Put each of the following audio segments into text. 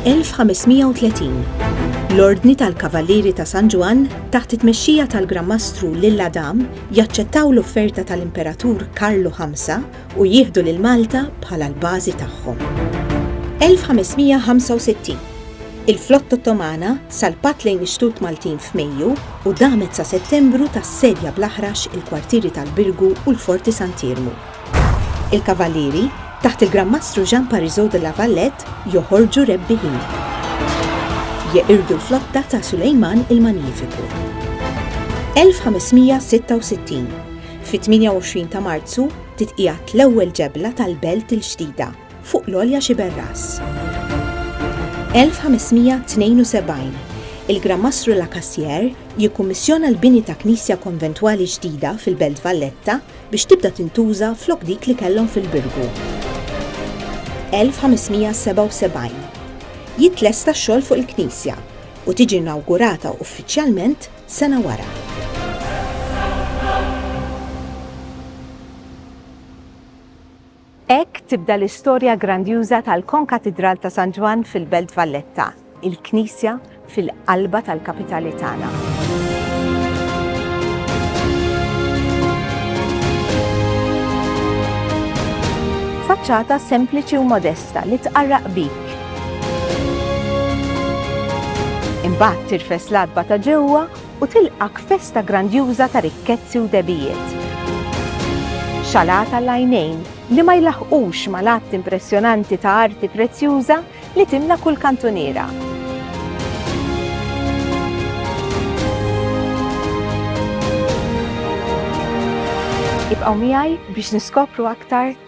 1530 L-Ordni tal-Kavallieri ta' San Ġwann, taħt it-tmexxija tal-Gran Mastru Lilla Dam, jaċċettaw l-offerta tal-Imperatur Karlu Ħamsa u jieħdu lil Malta bħala l-bażi tagħhom. 1565 Il-flotta Ottomana salpat lejn ix-xtut Maltin f'Mejju u damet sa Settembru tassedja bl-aħrax il-kwartieri tal-Birgu u l-Forti Sant'Iermu. Il-Kavallieri, taħt il-Gran Mastru Jean Parisot de la Valette, joħorġu rebbiħin. Jeqirdu l-flotta ta' Sulejman il-Magnifiku. 1566, Fit-28 ta' Marzu titqiegħed l-ewwel ġebla tal-Belt il-Ġdida, fuq l-għolja Xiberras. 1572, Il-Gran Mastru Lacassière jikkummissjona l-bini ta' knisja konventwali ġdida fil-Belt Valletta, biex tibda tintuża flok dik li kellhom fil-Birgu. 1577 Jitlesta x-xogħol fuq il-knisja u tiġi inawgurata uffiċjalment sena wara. Hekk tibda l-istorja grandjuża tal-Konkatidral ta' San Ġwann fil-Belt Valletta, il-knisja fil-qalba tal-kapitali tagħna. Faċċata sempliċi u modesta li tqarraq bik. Imbagħad tirfes l-għatba ta' ġewwa U tilqgħek f'festa grandjuża ta' rikkezzi u dehbijiet. Xalata għall-għajnejn li ma jlaħħqux mal-għadd impressjonanti ta' arti prezzjuża li timla kull kantuniera. Ibqgħu miegħi biex niskopru aktar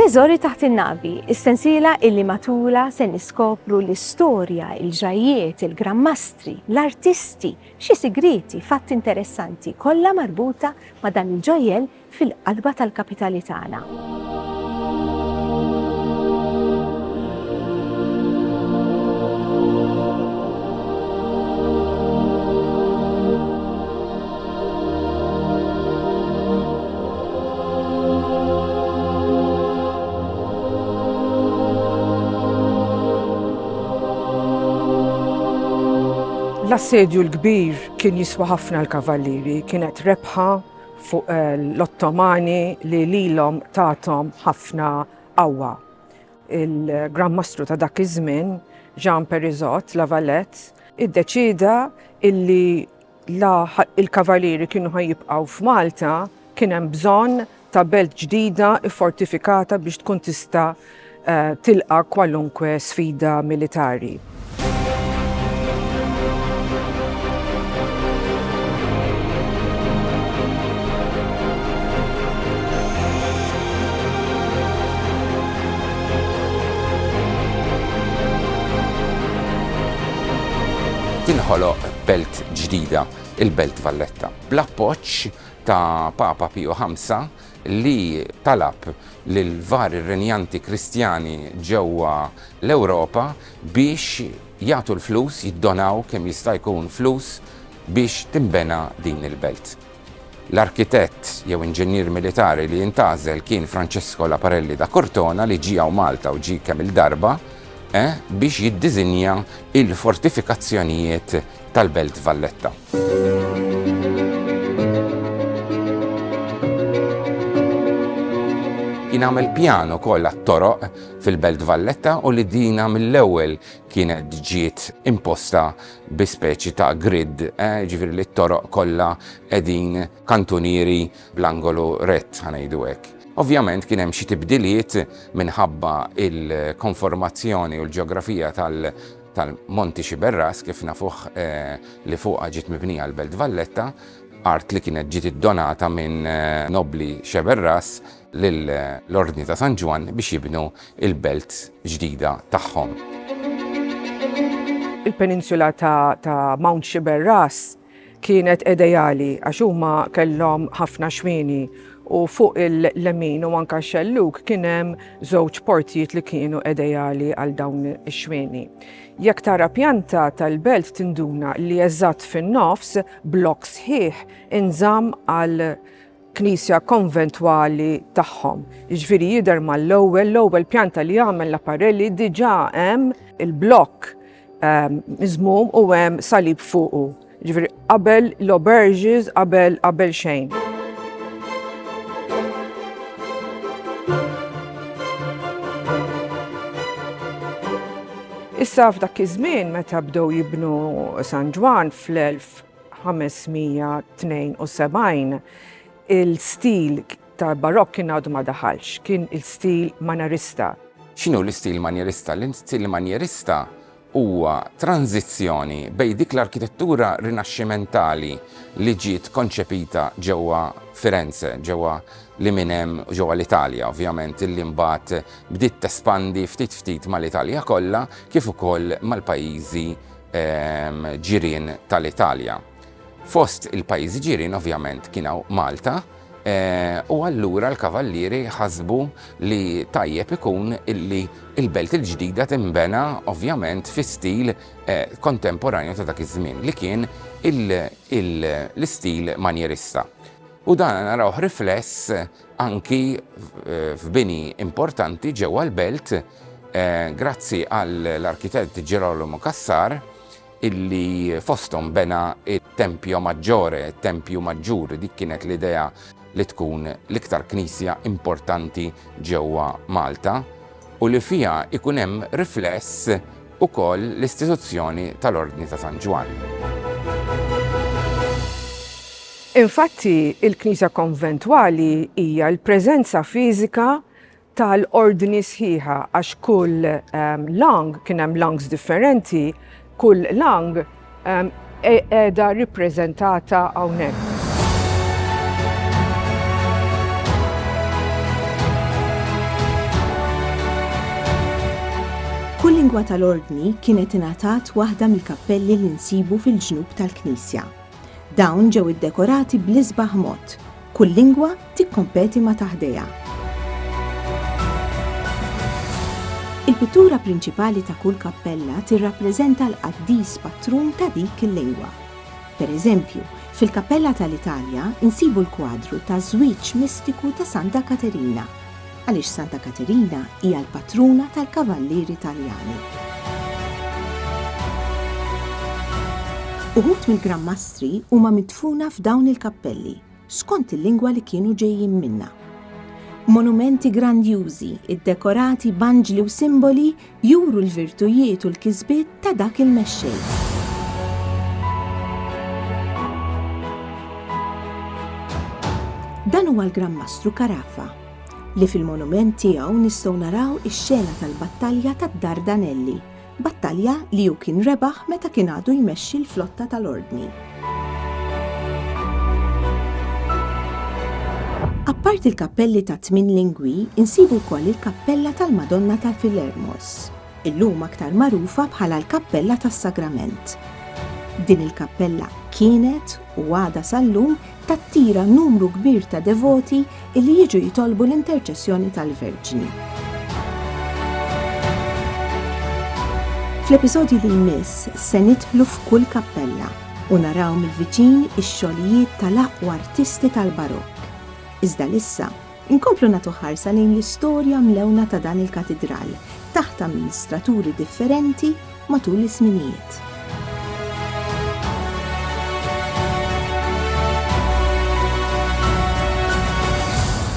Teżori taħt in-navi, is-sensiela illi matulha se niskopru l-istorja, il-ġrajjiet, il-grammastri, l-artisti, xi sigrieti, fatti interessanti, kollha marbuta ma' dan il-ġojjell fil-qalba tal-kapitali tagħna. L-assedju l-kbir kien jiswa ħafna l-kavallieri, kienet rebħa fuq eh, l-Ottomani li lilhom tatom ħafna qawwa. Il-Gran Mastru ta' dak iż-żmien, Jean Perizot, Lavalette, iddeċida illi la l-Kavalieri kienu ħa jibqgħu f'Malta, kien hemm bżonn ta' belt ġdida ffortifikata biex tkun tista' tilqa' kwalunkwe sfida militari. Tinħoloq belt ġdida, il-Belt Valletta. Bl-appoġġ ta' Papa Piju V, li talab lill-vari rrenjanti Kristjani ġewwa l-Ewropa biex jagħtu l-flus, jiddonaw kemm jista' jkun flus biex tinbena din il-belt. L-arkitett jew inġinier militari li intgħażel kien Francesco Laparelli da Cortona li ġie hawn Malta u ġie kemm-il darba eh, biex jiddiżinja il-fortifikazzjonijiet tal-Belt Valletta. Kien għamel pjan ukoll għat-toroq fil-Belt Valletta u li dina mill-ewwel kienet ġiet imposta bi speċi ta' grid, jiġifieri li t-toroq kollha qegħdin kantunieri bl-angolu rett, ħa ngħidu hekk. Ovvjament kien hemm xi tibdiliet minħabba l-konformazzjoni u l-ġeografija tal-Monti Sciberras, kif nafuh li fuqha ġiet mibnija l-Belt Valletta, art li kienet ġiet iddonata minn nobbli Sciberras, lill-Ordni ta' San Ġwann biex jibnu l-belt ġdida tagħhom. Il-peninsula ta' Mount Sciberras kienet edejali għax huma kellhom ħafna xwieni u fuq il-lemin u anke x-xellug kien hemm żewġ portijiet li kienu edejali għal dawn ix-xwieni. Jekk tara pjanta tal-belt tinduna li eżatt fin-nofs blokk sħiħ inżamm għal knisja konventwali tagħhom. Jiġifieri jidher mal-ewwel, l-ewwel pjanta li jagħmel l-apparelli diġà hemm il-blokk ehm, miżmum u hemm salib fuqu. Jiġifieri qabel l-oberges, qabel qabel xejn. Issa f'dak iż-żmien meta bdew jibnu San Ġwan fl-1000 572 Il-stil tal-Barokk kien għadu ma daħalx, kien il-stil Manjerista. X'inhu l-istil Manjerista? L-istil Manjerista huwa tranżizzjoni bejn dik l-arkitettura Rinaxximentali li ġiet konċepita ġewwa Firenze, ġewwa li minn hemm, ġewwa l-Italja ovvjament, illi mbagħad bdiet tespandi ftit ftit mal-Italja kollha kif ukoll mal-pajjiżi ġirien tal-Italja. Fost il-pajjiżi ġirien ovvjament kien hawn Malta u allura l-kavallieri ħasbu li tajjeb ikun illi il-belt il-ġdida tinbena ovvjament fi stil kontemporanju ta' dak iż-żmien li kien l-istil manjerista. U dan narawh rifless anki f'bini importanti ġewwa l-Belt grazzi għall-arkitett Girolamo Cassar illi fosthom bena t-Tempio Maggiore, it-Tempju Maġġur, dik kienet l-idea li tkun l-iktar knisja importanti ġewwa Malta u li fiha jkun hemm rifless ukoll l-istituzzjoni tal-Ordni ta' San Ġwann. Infatti, il-knisja konventwali hija l-preżenza fiżika tal-ordni sħiħa għax kull lang, kien hemm langs differenti, kull lang, qiegħda rippreżentata hawnhekk. Kull lingwa tal-Ordni kienet ingħatat waħda mill-kappelli li nsibu fil-ġnub tal-knisja. Dawn ġew iddekorati bl-isbaħ mod, Kull lingwa tikkompeti ma' ta' ħdejha. Il-pittura prinċipali ta' kull kappella tirrappreżenta l-qaddis patrun ta' dik il-lingwa. Per eżempju, fil-Kappella tal-Italja nsibu l-kwadru taż-żwieġ mistiku ta' Santa Katerina. għaliex Santa Katerina hija l-patruna tal-kavallieri Taljani. Uħud mill-Gran Mastri huma midfuna f'dawn il-kappelli, skont il-lingwa li kienu ġejjin minnha. Monumenti grandjużi, iddekorati b'anġli u simboli juru l-virtujiet u l-kisbiet ta' dak il-mexxej. Dan huwa l-Gran Mastru Carafa, li fil-monument tiegħu nistgħu naraw ix-xena tal-battalja tad-Dardanelli, battalja li hu kien rebaħ meta kien għadu jmexxi l-flotta tal-Ordni. Apparti l-kappelli tat-tmien lingwi, insibu wkoll il-Kappella tal-Madonna ta' Filermos, illum aktar magħrufa bħala l-Kappella tas-Sagrament. Din il-kappella kienet, u għadha sal-lum, tattira numru kbir ta' devoti Illi jiġu jitolbu l-interċessjoni tal-Verġni. Fl-episodju li jmiss se nidħlu f'kull kappella u naraw mill-viċin ix-xogħlijiet tal-aqwa artisti tal-barokk. Iżda lissa, inkomplu nagħtu ħarsa lejn l-istorja mlewna ta' dan il-katidral taħt amministraturi differenti matul iż-żminijiet.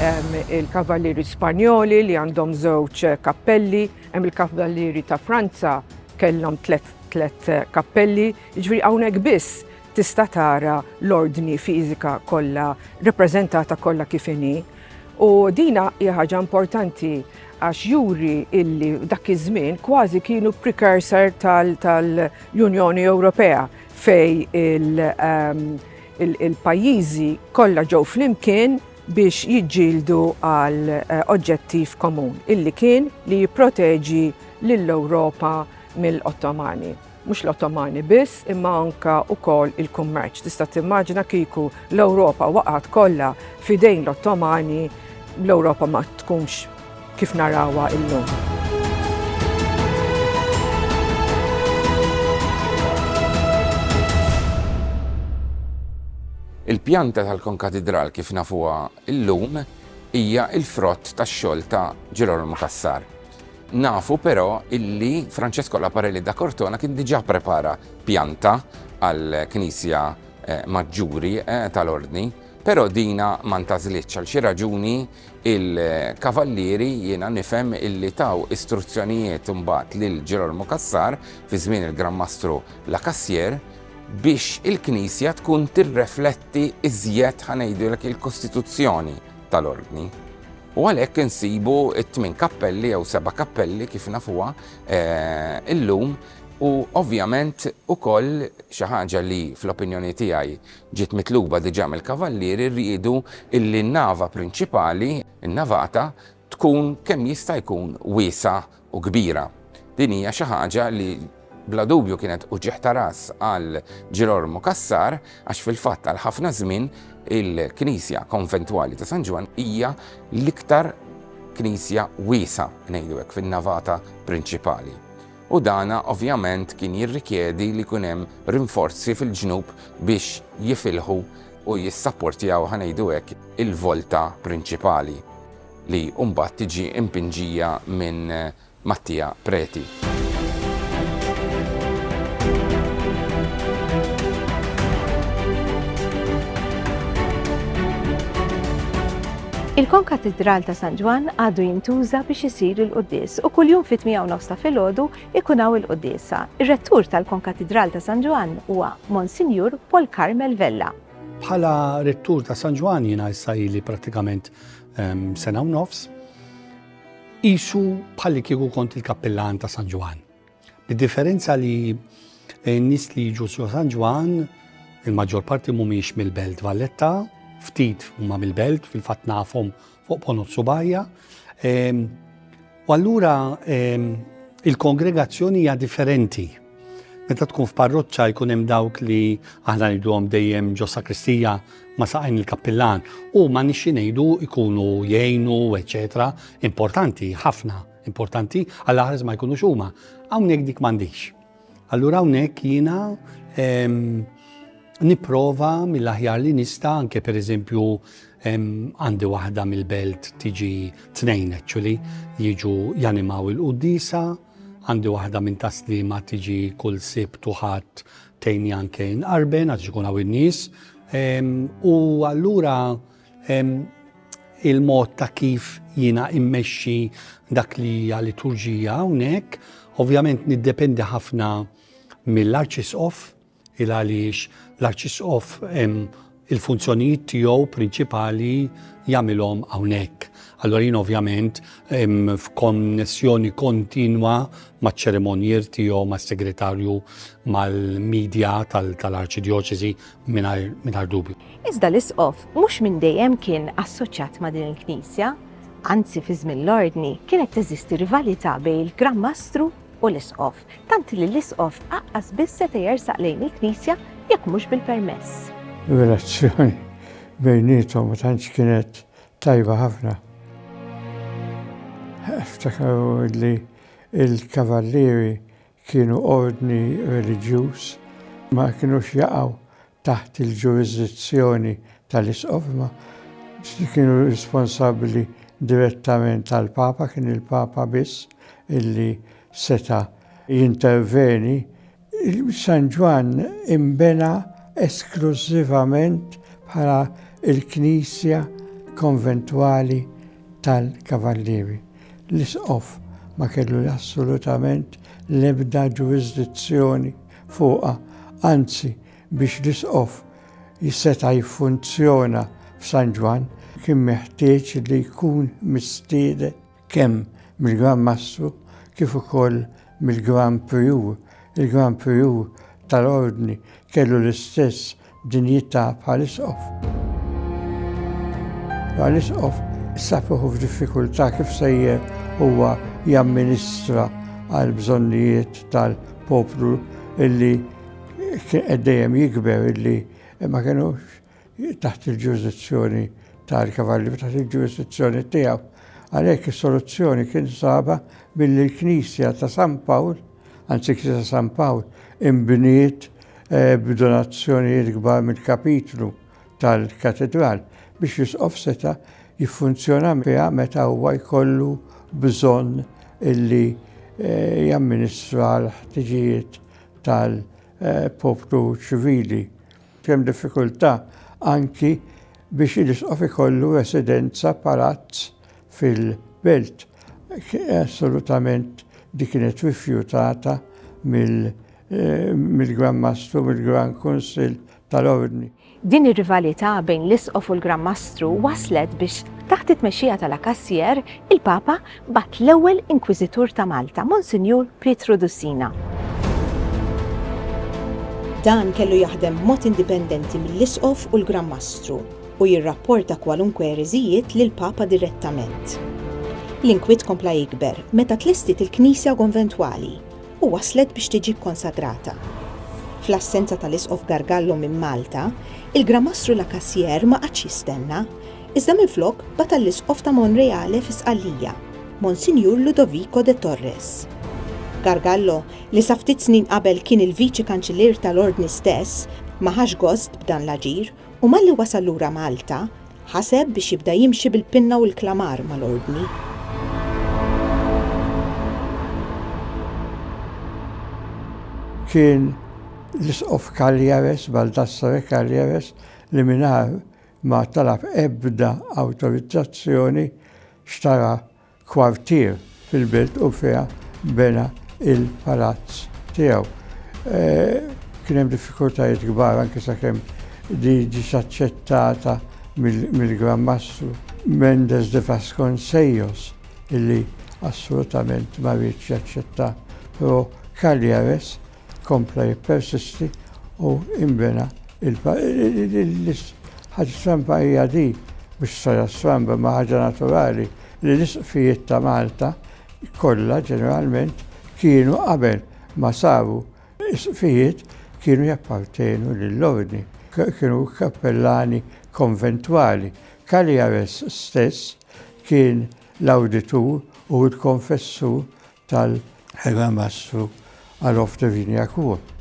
Hemm il-Kavallieri Spanjoli li għandhom żewġ kappelli, hemm il-Kavallieri ta' Franza kellhom tliet kappelli, jiġri hawnhekk biss tista' tara l-ordni fiżika kollha rappreżentata kollha kif inhi. U dina hija ħaġa importanti għax juri illi dak iż-żmien kważi kienu precursor tal-Unjoni Ewropea fej ehm, il-pajjiżi kollha ġew flimkien biex jiġġieldu għal eh, oġġettiv komun illi kien li jipproteġi lill-Ewropa mill-Ottomani. Mhux l-Ottomani biss, imma anke wkoll il-kummerċ. Tista' timmaġina kieku l-Ewropa waqgħet kollha f'idejn l-Ottomani, l-Ewropa ma tkunx kif narawha llum. Il-pjanta tal-konkatidral kif nafuha illum hija l-frott tax-xogħol ta' Ġirolomu Cassar. Nafu però illi Francesco Laparelli da Cortona kien diġà pprepara pjanta għall-Knisja Maġġuri tal-Ordni, però dina ma ntgħażlitx. Għal xi raġuni l-Kavallieri jiena nifhem illi taw istruzzjonijiet imbagħad lil Ġirolomu Cassar fi żmien il-Gran Mastru La Cassière biex il-knisja tkun tirrefletti tirrifletti iżjed ħa ngħidulek il-kostituzzjoni tal-ordni. U għalhekk insibu t-tmien kappelli jew seba' kappelli kif nafuha eh, illum u ovvjament ukoll xi ħaġa li fl-opinjoni tiegħi ġiet mitluba diġà mill-kavallieri rridu illi n-nava prinċipali, n-navata, tkun kemm jista' jkun wiesa u kbira. Din hija xi ħaġa li bla dubju kienet uġigħ ta' ras għal Ġirolmu Cassar għax fil-fatt għal ħafna żmien il-Knisja Konventwali ta' San Ġwann hija l-iktar knisja wiesgħa, ngħidu hekk, fin-navata prinċipali. U dana ovvjament kien jirrikjedi li jkun hemm rinforzi fil-ġnub biex jifilħu u jissapportjaw ħanejdu hekk il-volta prinċipali. li mbagħad tiġi mpinġija minn Mattia Preti. Il-Konkatidral ta' San Ġwann għadu jintuża biex isir il-quddies u kuljum fit-tmija u nofs ta' filgħodu ikun hawn il-quddiesa. Ir-Rettur tal-Konkatidral ta' San Ġwann huwa Monsinjur Paul Carmel Vella. Bħala Rettur ta' San Ġwann jiena issa ili prattikament sena u nofs, isu bħalli kieku kont il-kappillan ta' San Ġwan. Bid-differenza li n-nis li jiġu su San Ġwan, il-maġġor parti mumiex mill-belt Valletta, ftit huma mill-belt, fil-fat nafhom fuq ponot subajja. U allura ehm, il-kongregazzjoni hija differenti. Meta tkun f'parroċċa jkun hemm dawk li aħna ngħiduhom dejjem ġo sakristija ma saqajn il-kappillan u ma nixxi ngħidu ikunu jgħinu, eċetera, importanti ħafna, importanti għal aħres ma jkunux huma. Hawnhekk dik m'għandix. Allura hawnhekk jiena nipprova mill-aħjar li nista' anke pereżempju għandi waħda mill-belt tiġi tnejn actually jiġu janimaw il-quddisa, għandi waħda minn taslima tiġi kull sibt u ħadd tejni anke nqarben għax ikun hawn in-nies. U allura il-mod ta' kif jiena immexxi dak li hija liturġija hawnhekk, ovvjament niddependi ħafna mill-arċisqof il għaliex l-arċisqof il-funzjonijiet tiegħu prinċipali jagħmilhom hawnhekk. Allora jien ovvjament f'konnessjoni kontinwa maċ-ċeremonjier tiegħu mas-segretarju mal-medja tal-arċidjoċesi mingħajr dubju. Iżda l-Isqof mhux minn dejjem kien assoċjat ma' din il-Knisja, anzi fi żmien l-Ordni kienet teżisti rivalità bejn il-Gran Mastru u l-Isqof, tant li l-Isqof aqqas biss seta' jersaq lejn il-Knisja jekk mhux bil-permess. Ir-relazzjoni bejniethom ma tantx kienet tajba ħafna. Eftakaru li l-Kavallieri kienu ordni reliġjuż, ma kinux jaqgħu taħt il-ġurisdizzjoni tal-isqof imma kienu responsabbli direttament għall-Papa, kien il-Papa biss illi seta' jinterveni. San Ġwann inbena esklużivament bħala l-knisja konventwali tal-Kavallieri. L-Isqof ma kellu assolutament l-ebda ġurisdizzjoni fuqha, anzi biex l-Isqof seta' jiffunzjona f'San Ġwann kien meħtieġ li jkun mistieden kemm mill-Gran Mastru kif ukoll mill-Gran Prijur. Il-Gran Prijur tal-Ordni kellu l-istess Dinjità bħal Isqof. Bħal Isqof safiħu f'diffikultà kif sejjer huwa jamministra għal bżonnijiet tal-poplu illi dejjem jikber illi ma kienux taħt il-ġurisdizzjoni tal-kavalli, taħt il-ġurisdizzjoni tiegħu. Għalhekk is-soluzzjoni kien saba billi l-Knisja ta' San Pawl Anzikli ta' San Pawl inbniet b'donazzjonijiet kbar mill-kapitlu tal-katidral biex l-isqof seta' jiffunzjona fiha meta huwa jkollu bżonn li jamministra l-ħtiġijiet tal-poplu ċivili. Hemm diffikultà anki biex l-isqof ikollu residenza, palazz, fil-belt assolutament di kienet rifjutata mill-Gran Mastru, mill-Gran Kunsill tal-Ordni. Din ir-rivalità bejn l-Isqof u l-Gran Mastru wasslet biex taħt it-tmexxija ta' La Cassière, il-Papa bagħat l-ewwel Inkwiżitur ta' Malta, Monsinjur Pietru Dussina. Dan kellu jaħdem b'mod indipendenti mill-Isqof u l-Gran Mastru. u jirrapporta kwalunkwe ereżijiet lill-Papa direttament. L-inkwiet kompla jikber meta tlestiet il-knisja konventwali u waslet biex tiġi kkonsagrata. Fl-assenza tal-Isqof Gargallo minn Malta, il-Gramastru La Cassière ma qagħadx jistenna, iżda minflok bagħat għall-Isqof ta' Monreale fi Sqallija, Monsinjur Ludovico de Torres. Gargallo, li sa ftit snin qabel kien il-Viċi Kanċillier tal-Ordni stess, ma ħax gost b'dan l-aġir U malli wasal lura Malta, ħaseb biex jibda jimxi bil-pinna u l-klamar mal-Ordni. kien l-Isqof Cagliares, Baldassare Cagliares, li minar ma talab ebda autorizzazzjoni xtara kwartier fil-belt u fiha bena l-palazz tiegħu. Kien hemm diffikultajiet kbar anke sakemm di ġiet aċċettata mill-Gran Mastru Mendes de Vasconcellos illi assolutament ma riedx jaċċetta, però Cagliares kompla jippersisti u imbena il-ħaġa stramba hija di, mhux saja stramba ma ħaġa naturali li l-isqfijiet ta' Malta kollha ġeneralment kienu qabel ma saru isqfijiet kienu jappartenu lill-ordni, kienu kappellani konventwali. Cagliares stess kien l-awditur u l-konfessur tal-Ħegamastru għal Off the Vinia Court.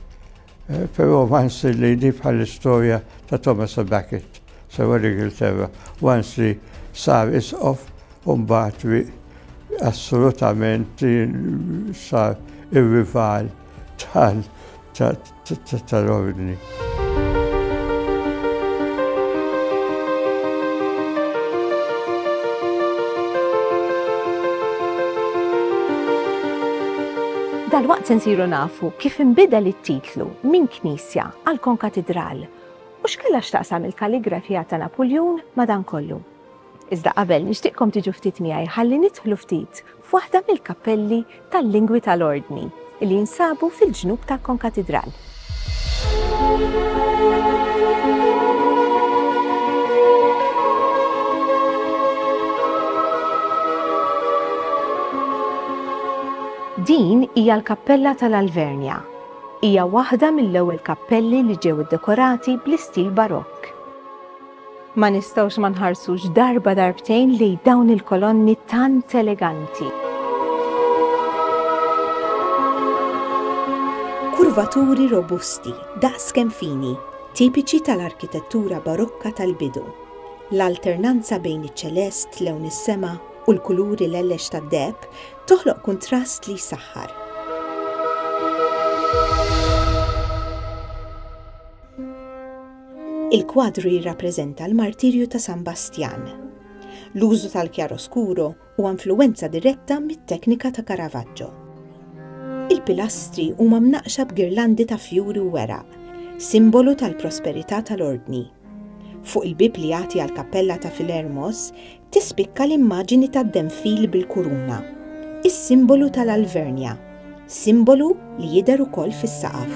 Eh, però ma nsir li di bħall-istorja ta' Thomas a Becket sewa l-Ingilterra, once li sar isqof un bat assolutament sar ir-rival tal Dalwaqt se nsiru nafu kif inbidel it-titlu minn knisja għal konkatidral u x'kellha x'taqsam il-kalligrafija ta' Napuljun ma' dan kollu. Iżda qabel, nixtieqkom tiġu ftit miegħi ħalli nidħlu ftit f'waħda mill-kappelli tal-lingwi tal-Ordni li jinsabu fil-ġnub tal-konkatidral. Din hija l-kappella tal-Alvernja. Hija waħda mill-ewwel kappelli li ġew iddekorati bl-istil Barokk. Ma nistgħux ma nħarsux darba darbtejn lejn dawn il-kolonni tant eleganti. Kurvaturi robusti, daqs kemm fini, tipiċi tal-arkitettura Barokka tal-bidu. L-alternanza bejn iċ-ċelest, lewn is-sema, u l-kuluri lellex tad-deheb toħloq kuntrast li jsaħħar. Il-kwadru jirrappreżenta l-martirju ta' San Bastjan. L-użu tal-kjaroskuro huwa influwenza diretta mit-teknika ta' Caravaggio. Il-pilastri huma mnaqqxa b'girlandi ta' fjuri u weraq, simbolu tal-prosperità tal-ordni. Fuq il-bieb li jagħti għall-kappella ta' Philermos Tispikka l-immaġini tad-denfil bil-kuruna, is-simbolu tal-Alvernja, simbolu li jidher ukoll fis-saqaf.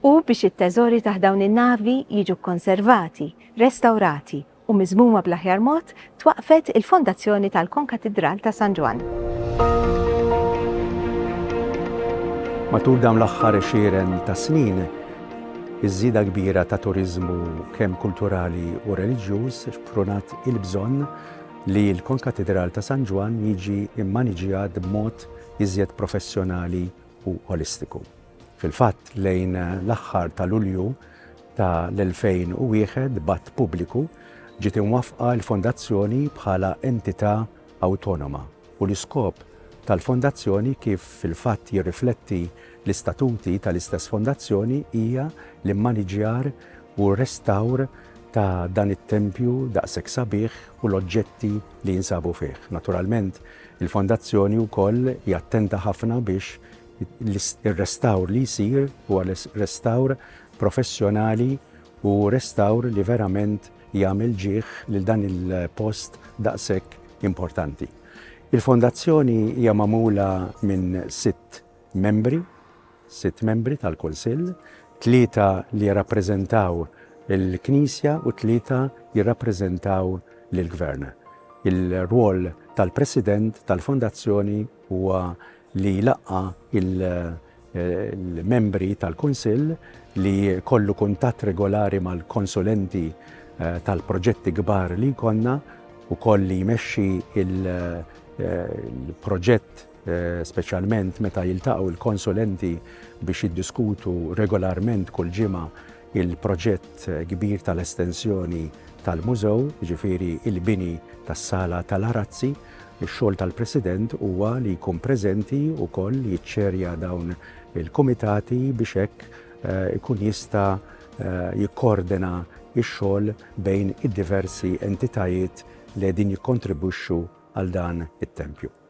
u biex it-teżori taħt dawn in-navi jiġu kkonservati, restawrati u miżmuma bl-aħjar mod, twaqqfet il-fondazzjoni tal-Konkatidral ta' San Ġwann. Matul dawn l-aħħar għexieren ta' snin, iż-żieda kbira ta' turiżmu kemm kulturali u reliġjuż xprunat il-bżonn li l-Konkatidral ta' San Ġwann jiġi mmaniġjat b'mod iżjed professjonali u olistiku. Fil-fatt, lejn l-aħħar ta' Lulju ta' l-2001 b'att pubbliku ġiet imwaffqa l-Fondazzjoni bħala entità awtonoma u l-iskop tal-Fondazzjoni kif fil-fatt jirrifletti l-istatuti ta' l-istess Fondazzjoni hija l-immaniġjar u r-restawr ta' dan it-tempju daqshekk sabiħ u l-oġġetti li jinsabu fih. Naturalment, il-Fondazzjoni wkoll hi attenta ħafna biex Ir-restawr li jsir huwa restawr professjonali u restawr li verament jagħmel ġieh lil dan il-post daqshekk importanti. Il-Fondazzjoni hija magħmula minn sitt membri, sitt membri tal-Kunsill, tlieta li jirrappreżentaw il-Knisja u tlieta jirrappreżentaw lill-Gvern. Il-rwol tal-President tal-Fondazzjoni huwa li jlaqqa' il-membri tal-Kunsill, li jkollu kuntatt regolari mal-konsulenti tal-proġetti kbar li jkollna, ukoll li jmexxi l-proġett speċjalment meta jiltaqgħu l-konsulenti biex jiddiskutu regolarment kull ġimgħa il-proġett kbir tal-estensjoni tal-Mużew, jiġifieri l-bini tas-Sala tal-Arazzi, ix-xogħol tal-President huwa li jkun preżenti wkoll jiċċerja dawn il-kumitati biex hekk ikun jista' jikkoordina x-xogħol bejn id-diversi entitajiet li qegħdin jikkontribwixxu għal dan it-tempju.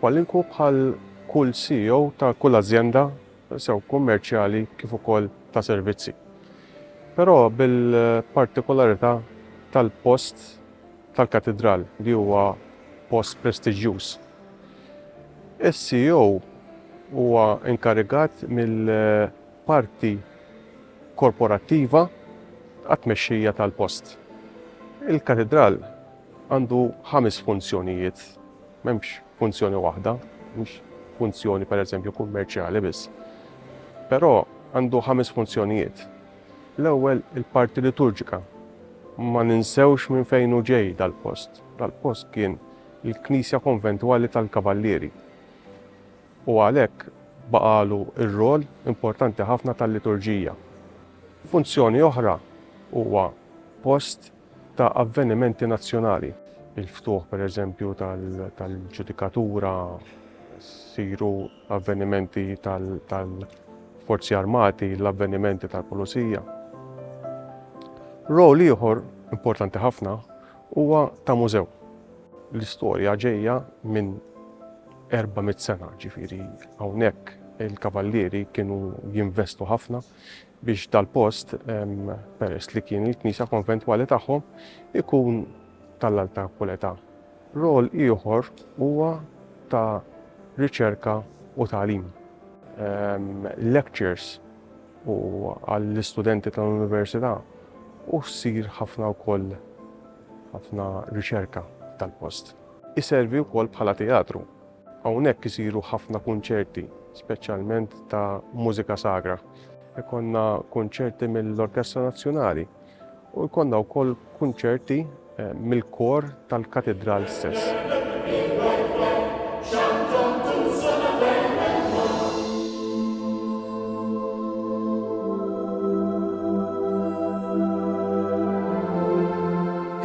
Kwalinku bħal kull CEO ta' kull azjenda sew kummerċjali kif ukoll ta' servizzi. Però bil-partikularità tal-post tal-Katidral li huwa post prestiġjuż. Is-CEO huwa inkarigat mill-parti korporattiva għat-tmexxija tal-post. Il-Katidral Għandu ħames funzjonijiet, m'hemmx funzjoni waħda, mhux funzjoni pereżempju kummerċjali biss. Però għandu ħames funzjonijiet. L-ewwel il-parti liturġika. Ma ninsewx minn fejn hu ġej dal-post. Dal-post kien il-Knisja Konventwali tal-Kavallieri. U għalhekk baqalu r-rol importanti ħafna tal-liturġija. Funzjoni oħra huwa post ta' avvenimenti nazzjonali. Il-ftuħ, pereżempju, tal-ġudikatura, isiru avvenimenti tal-Forzi Armati, l-avvenimenti tal-Pulizija. Role ieħor importanti ħafna huwa ta' mużew. L-istorja ġejja minn 400 sena, ġifieri hawnhekk il-Kavallieri kienu jinvestu ħafna, biex dal-post, peress li kien il-knisja konventwali tagħhom, ikun tal-alta kwalità. Rol ieħor huwa ta' riċerka u tagħlim. Lectures u għall-istudenti tal-Università u ssir ħafna wkoll ħafna riċerka f'dal-post. Iservi wkoll bħala teatru Hawnhekk isiru ħafna kunċerti, speċjalment ta' mużika sagra. Ikollna kunċerti mill-Orkestra Nazzjonali u jkollna wkoll kunċerti mill-kor tal-Katidral stess.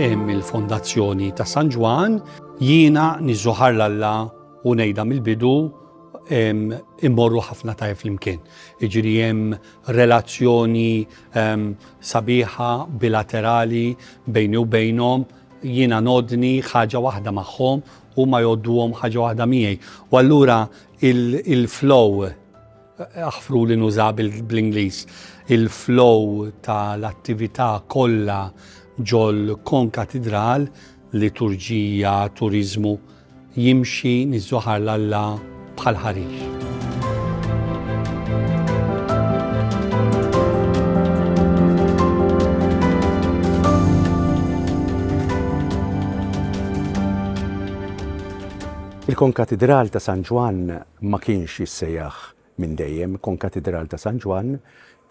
Hemm il-Fondazzjoni ta' San Ġwann. Jiena niżżuħar l-Alla u ngħidha mill-bidu immorru ħafna tajjeb flimkien. Iġri hemm relazzjoni sabiħa bilaterali bejni u bejnhom, jiena nodni ħaġa waħda magħhom u ma jodduhom ħaġa waħda miegħi. U allura il-flow aħfru li nuża bl-Ingliż, il-flow tal-attività kollha ġol kon katidral liturġija, turiżmu, jimxi niż-żohar l-Alla bħal ħarix. Il-Konkatidral ta' San Ġwann ma kienx jissejjaħ minn dejjem. Konkatidral ta' San Ġwann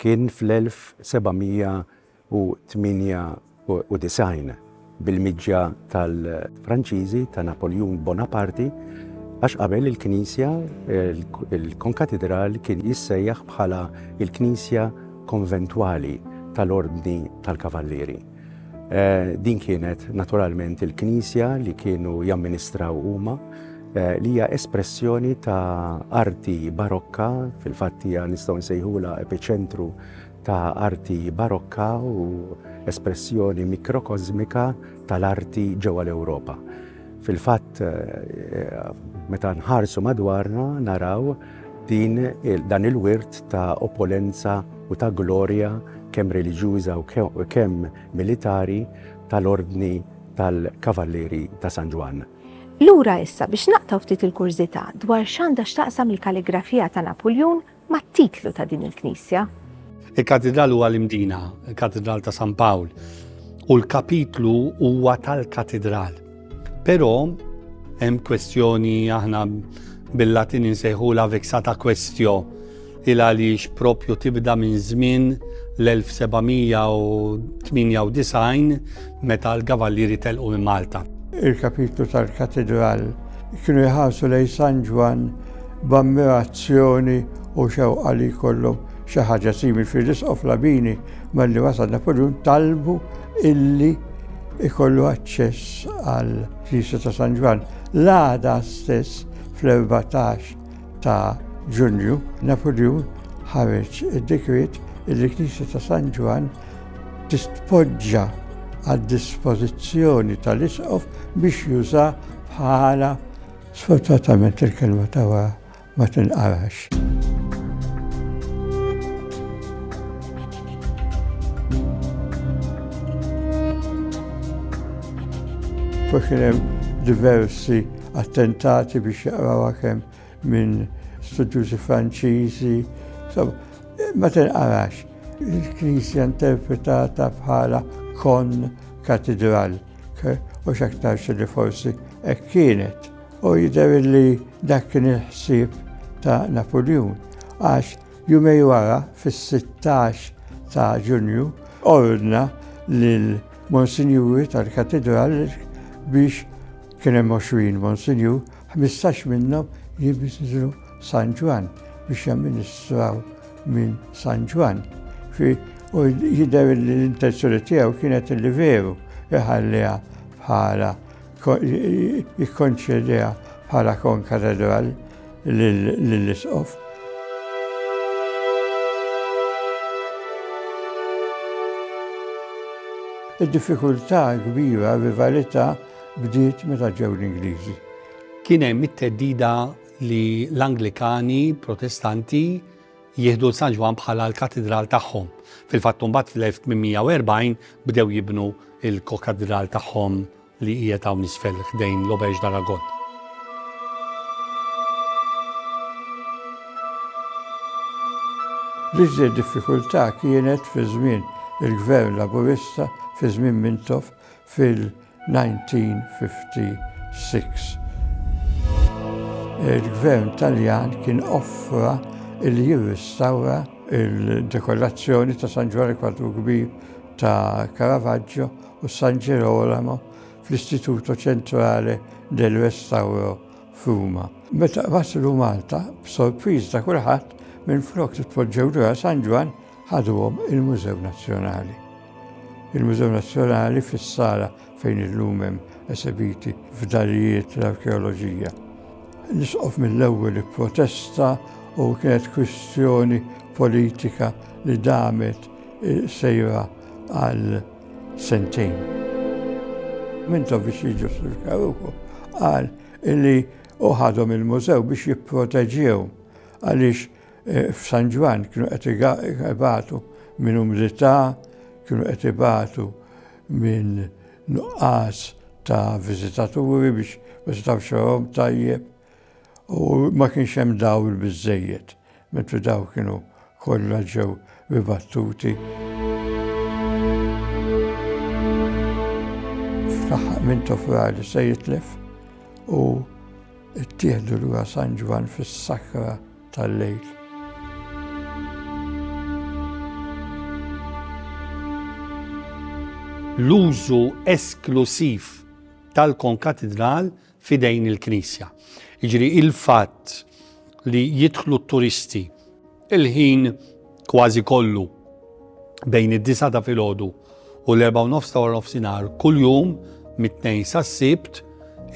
kien fl-1700 1898 bil-miġja tal-Franċiżi ta' Napoljun Bonaparti għax qabel il-knisja, il-konkatidral kien jissejjaħ bħala l-knisja konventwali tal-Ordni tal-Kavallieri. Din kienet naturalment il-knisja li kienu jamministraw huma li hija espressjoni ta' arti barokka, fil-fatt hija nistgħu nsejħulha epiċentru ta' arti Barokka u espressjoni mikrokosmika tal-arti ġewwa l-Ewropa. Fil-fatt, meta nħarsu madwarna naraw din dan il-wirt ta' opulenza u ta' glorja kemm reliġjuża u kemm militari tal-Ordni tal-Kavallieri ta' San Ġwann. Lura issa biex naqtgħu ftit il-kurżità dwar x'għandha x'taqsam il-kalligrafija ta' Napuljun mat-titlu ta' din il-knisja. Il-katidral huwa l-imdina, il-katidral ta' San Pawl, u l-kapitlu huwa tal-katidral. Però hemm kwestjoni aħna bil-Latin insejħu la vexata questio il għaliex propju tibda minn żmien l-1798 meta l-Kavallieri telqu minn Malta. Il-kapitlu tal-Katidral kienu jħarsu lejn San Ġwann b'ammirazzjoni u xewqa li jkollhom xi ħaġa simili fih. L-Isqof Labini malli wasal Napoljun talbu illi jkollu aċċess għall-knisja ta' San Ġwann. L-għada stess fl-erbatax ta' Ġunju, Napoljun ħareġ id-dekret li l-Knisja ta' San Ġwann tistpoġġa għad-dispożizzjoni tal-Isqof biex juża bħala Sfortunatament il-kelma tawa ma tinqarax. Fuq hemm diversi attentati biex jaqraw kemm minn studjużi Franċiżi. Ma tinqarax, il-Knisja interpretata bħala kon katidral, u xaktar li forsi hekk kienet. U jidher li dak kien il-ħsieb ta' Napoleon, għax jumej wara fis-16 ta' Ġunju ordna lil Monsinjuri tal-Katidral biex Kien hemm għoxrin Monsinjur, ħmistax minnhom jinżlu San Ġwann biex jamministraw minn San Ġwann. U jidher li l-intenzjoni tiegħu kienet li veru iħalliha bħala jikkonċediha bħala konkatedral lill-Isqof. Id-diffikultà kbira, rivalità, bdiet meta ġew l-Ingliżi. Kien hemm it-theddida li l-Anglikani Protestanti jieħdu San Ġwan bħala l-katidral tagħhom. Fil-fatt mbagħad fl-1840 bdew jibnu il-kokadral tagħhom li hija ta' nisfel ħdejn l-Obex Daragon. L-iżjed diffikultà kienet fi żmien il-gvern laburista fi żmien Mintoff fil-1956. Il-Gvern Taljan kien offra li jirrestawra il-dekorazzjoni ta' San Ġwanni Kwadru Kbir ta' Caravaggio u San Gerolamo fl-Istituto Centrale del Restauro f'Ruma. Meta waslu Malta, b'sorpriż ta' kulħadd, minflok li tpoġġew lura San Ġwann, ħaduhom il-Mużew Nazzjonali. Il-Mużew Nazzjonali fis-sala fejn illum hemm esebiti fdalijiet tal-arkeoloġija. L-Isqof mill-ewwel ipprotesta u kienet kwistjoni politika li damet sejra għal sentejn. Mintoviċi ġustifikaw ukoll qal li hu ħadhom il-mużew biex jipproteġew għaliex F'San Ġwann kienu qed ibatu minn umidità, kienu qed ibatu minn nuqqas ta' viżitaturi biex ma setgħux jarahom tajjeb u ma kienx hemm dawl biżżejjed, mentri dawn kienu kollha ġew ribattuti. Fl-aħħar Mintoff Rali se jitlef u Ittieħdu lura San Ġwann fis-sakra tal-lejl. L-użu esklusiv tal-konkatidral f'idejn il-Knisja. Jiġri il-fatt li jidħlu t-turisti Il-ħin kważi kollu bejn id-disa ta' filgħodu u l-erba' u nofs ta' wara nofsinhar kuljum mit-tnejn sas-sibt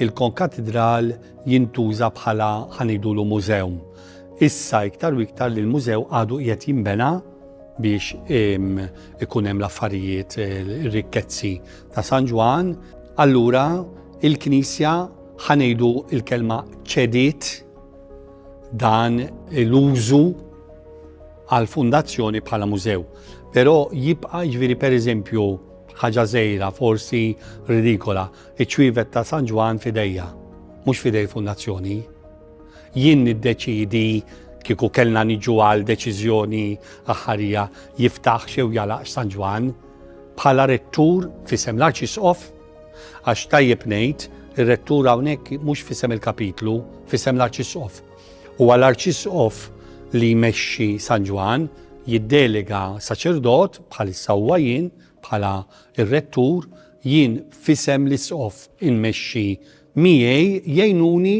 il-konkatidral jintuża bħala ħanidulu mużew. Issa iktar u iktar li l-mużew għadu qiegħed jinbena biex ikun hemm l-affarijiet ir-rikkezzi ta' San Ġwan, allura il-Knisja ħanejdu il-kelma ċediet dan l-użu għal fundazzjoni bħala mużew. Però jibqa' ġviri per eżempju ħaġa żejra, forsi ridikola, iċ-ċwievet ta' San Ġwan fidejja, mhux fidej fundazzjoni. Jien niddeċidi kieku kellna niġu għal deċiżjoni aħħarija jiftaħ xew jalaqx San Ġwan bħala rettur fisem l-arċisqof Għax tajjeb ngħid, ir-Rettur hawnhekk mhux f'isem il-Kapitlu, f'isem l-Arċisqof. Huwa l-Arċisqof li jmexxi San Ġwann, jiddelega saċerdot, bħalissa huwa jien, bħala r-Rettur, jien f'isem l-Isqof inmexxi Miegħi jgħinuni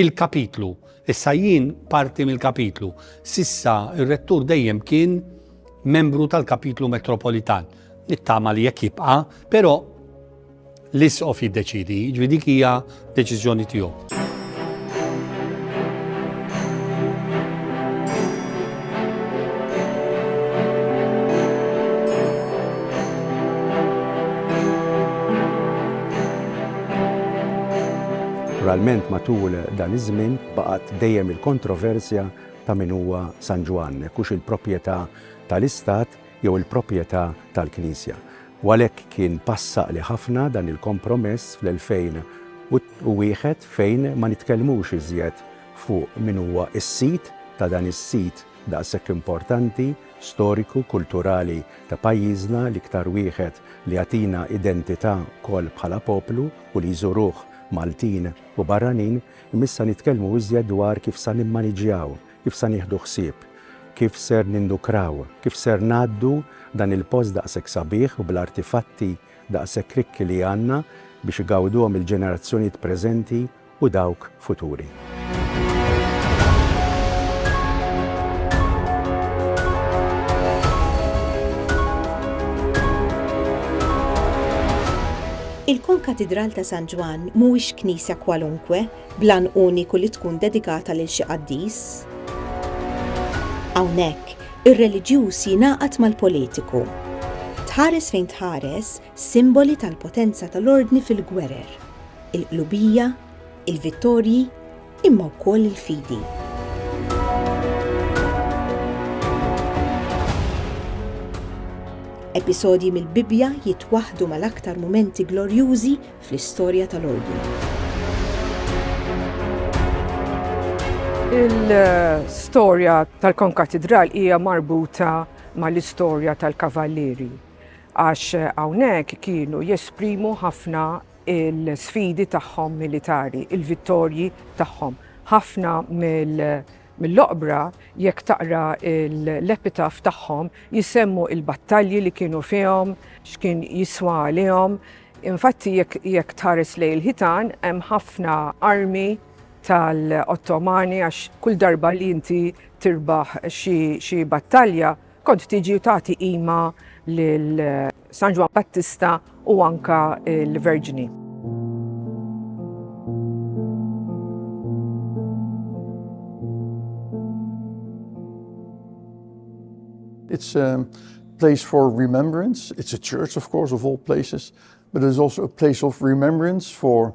il-kapitlu. Issa jien parti mill-kapitlu. S'issa r-rettur dejjem kien membru tal-kapitlu metropolitan. Nittama li jekk jibqa', però l-isqof jiddeċidi, ġvi dik hija deċiżjoni tiegħu. Naturalment matul dan iż-żmien baqgħet dejjem il-kontroversja ta' min huwa San Ġwann, hekk hux il-proprjetà tal-istat jew il-proprjetà tal-Knisja. U għalhekk kien pass għaqli ħafna dan il-kompromess fl-2001 fejn ma nitkellmux iżjed fuq min huwa s-sid ta' dan is-sit daqshekk importanti, storiku, kulturali ta' pajjiżna, l-iktar wieħed li jagħtina identità wkoll bħala poplu u li jżuruh Maltin u barranin, imma issa nitkellmu iżjed dwar kif sa nimmaniġjaw, kif sa nieħdu ħsieb, kif ser nindukraw, kif ser ngħaddu dan il-post daqshekk sabiħ u bl-artifatti daqshekk rikki li għandna biex igawduhom il-ġenerazzjonijiet preżenti u dawk futuri. Il-Konkatidral ta' San Ġwann mhuwiex knisja kwalunkwe bl-għan uniku li tkun dedikata lil xi qaddis. Hawnhekk, ir-reliġjuż jingħaqad mal-politiku. Tħares fejn tħares, simboli tal-potenza tal-ordni fil-gwerer, il-qlubija, il-vittorji, imma wkoll il-fidi. Episodji mill-Bibbja jitwaħħdu mal-aktar mumenti glorjużi fl-istorja tal-ordni. Il-storja tal-konkatidral hija marbuta mal-istorja tal-kavallieri. għax hawnhekk kienu jesprimu ħafna l-sfidi tagħhom militari, il-vittorji tagħhom. Ħafna mill-oqbra, jekk taqra l-epitaf tagħhom, jsemmu l-battalji li kienu fihom, x'kien jiswa għalihom. Infatti jekk tħares lejn il-ħitan hemm ħafna armi tal-Ottomani għax kull darba li inti tirbaħ xi battalja, Kont tiġi u tagħti qima lil San Ġwann Battista u anka l-Verġni. It's a place for remembrance. It's a church, of course, of all places, but it's also a place of remembrance for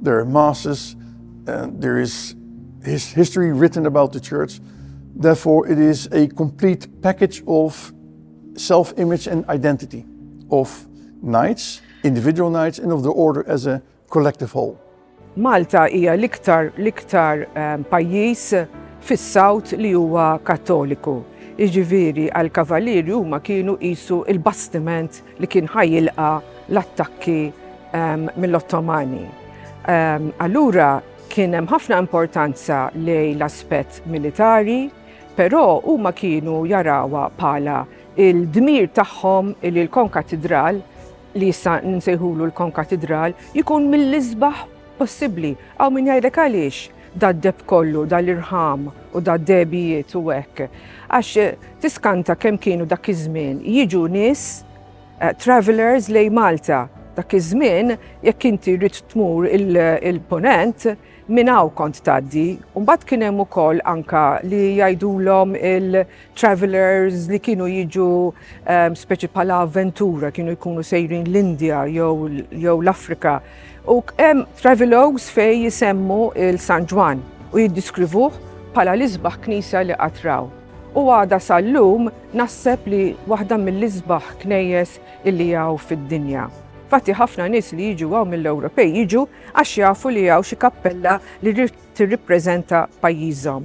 There are masses and there is his history written about the church. Therefore, it is a complete package of self image and identity of knights, individual knights, and of the order as a collective whole. Malta hija l-iktar l-iktar ehm, pajjiż fis-South li huwa Kattoliku. Iġifieri għal kavalieri huma kienu qisu il-bastiment li kien ħa jilqa' l-attakki mill-Ottomani. Allura kien hemm ħafna importanza lejn l-aspett militari, però huma kienu jarawha bħala il-dmir tagħhom li l-konkatidral li issa nsejħulu l-konkatidral jkun mill-isbaħ possibbli. Aw min jgħidlek għaliex? dad-deb kollu, dal-irħam u dad-degħbijiet u hekk. Għax tiskanta kemm kienu dak iż-żmien jiġu nies eh, travelers lej Malta. Dak iż-żmien jekk inti rrid tmur il-ponent minn hawn kont tgħaddi. Mbagħad kien hemm ukoll anka li jgħidulhom travelers li kienu jiġu ehm, speċi pala avventura, kienu jkunu sejrin l-Indja jew l-Afrika. U hemm travelogues fej jisemmu il-San Ġwan u jiddiskrivuh pala l-isbaħ knisa li qatraw. U għada sal-lum nasseb li waħda mill-isbaħ knejjes illi jaw fid-dinja. Fatti ħafna nis li jiġu għaw mill-Ewropej jiġu għax jafu li għaw xi kappella li tirrippreżenta pajjiżhom.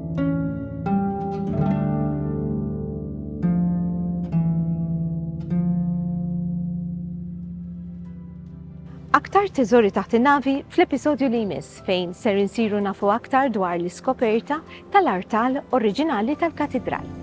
Aktar teżori taħt in-navi fl-episodju li jmiss fejn ser insiru nafu aktar dwar l-iskoperta tal-artal oriġinali tal-katidral.